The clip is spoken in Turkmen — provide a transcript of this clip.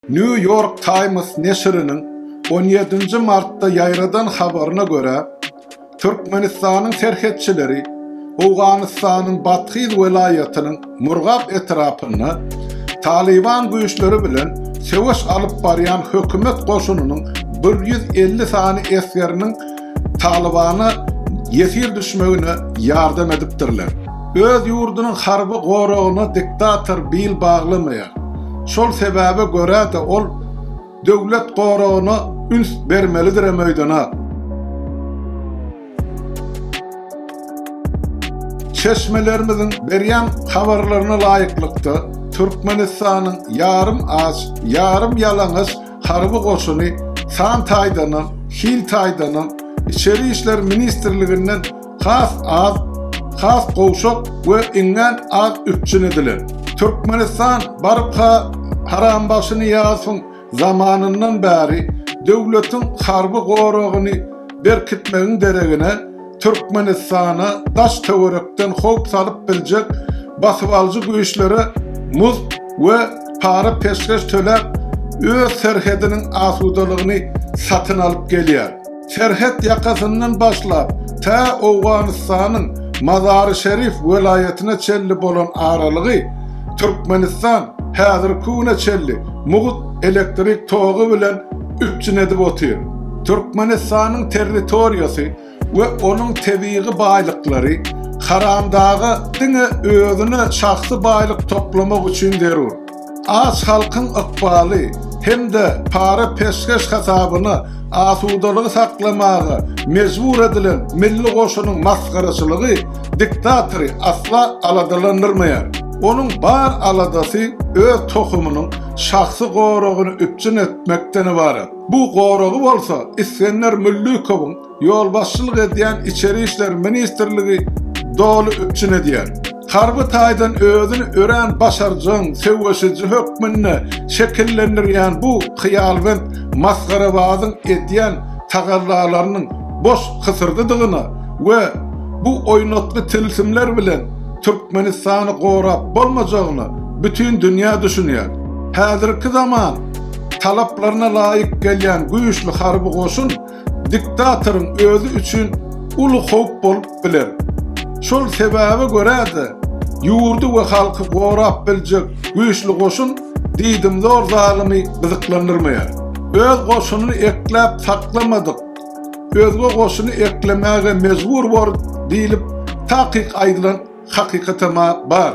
New York Times neşiriniň on ýedinji martda ýaýradan habaryna görä, Türkmenistanyň serhetçileri Owganystanyň Bathyz welaýatynyň Murgap etrapynda Talyban güýçleri bilen söweş alyp barýan hökümet goşunynyň bir ýüz elli sany esgeriniň Talybana ýesir düşmegine ýardam edipdirler. Öz ýurdunyň harby goragyna diktator bil baglamaýar. Şol sebäbe görä-de ol döwlet goragyna üns bermelidirem öýdana. Çeşmelerimiziň berýän habarlaryna laýyklykda, Türkmenistanyň ýarym aç, ýarym ýalaňaç Harby goşuny san taýdanam, hil taýdanam Içeri işler ministrliginden has az, has gowşak we iňňän az üpjün edilen. Türkmenistan barka Harambagşy Nyýazowyň zamanyndan bäri döwletiň harby goragyny berkitmegiň deregine, Türkmenistana daş-töwerekden howp salyp biljek basybalyjy güýçlere muzt we para peşgeş töläp, öz serhediniň asudalygyny satyn alyp gelýär. Serhet ýakasyndan başlap, tä Owganystanyň Mazary-Şerif welaýatyna çenli bolan aralygy Türkmenistan häzirki güne çenli mugt elektrik togy bilen üpjün edip otyr. Türkmenistanyň territoriýasy we onuň tebigy baýlyklary haramdaga diňe özüne şahsy baýlyk toplamak üçin zerur. Aç halkyň ykbaly hem-de para peşgeş hasabyna asudalygy saklamaga mejbur edilen milli goşunyň masgaraçylygy diktatory asla aladalandyrmaýar. Onuň bar aladasy öz tohumynyň şahsy goragyny üpjün etmekden ybarat. Bu goragy bolsa Isgender Müllükowyň ýolbaşçylyk edýän Içeri işler ministrligi doly üpjün edýär. Harby taýdan özüni örän başarjaň söweşiji hökmünde şekillendirýän bu hyýalbent masgarabazyň edýän tagallalarynyň boş hysyrdydygyna we bu oýnatgy tilsimler bilen Türkmenistany gorap bolmajagyna bütin dünýä düşünýär. Häzirki zaman. talaplaryna laýyk gelýän güýçli harby goşun diktatoryň özi üçin uly howp bolup biler. Şol sebäbe görä-de, ýurdy we halky gorap biljek güýçli goşun diýdimzor zalymy gyzyklandyrmaýar. Öz goşunyny ekläp saklamadyk, özge goşuny eklemäge mejbur bor diýlip takyk aýdylan hakykatama bar.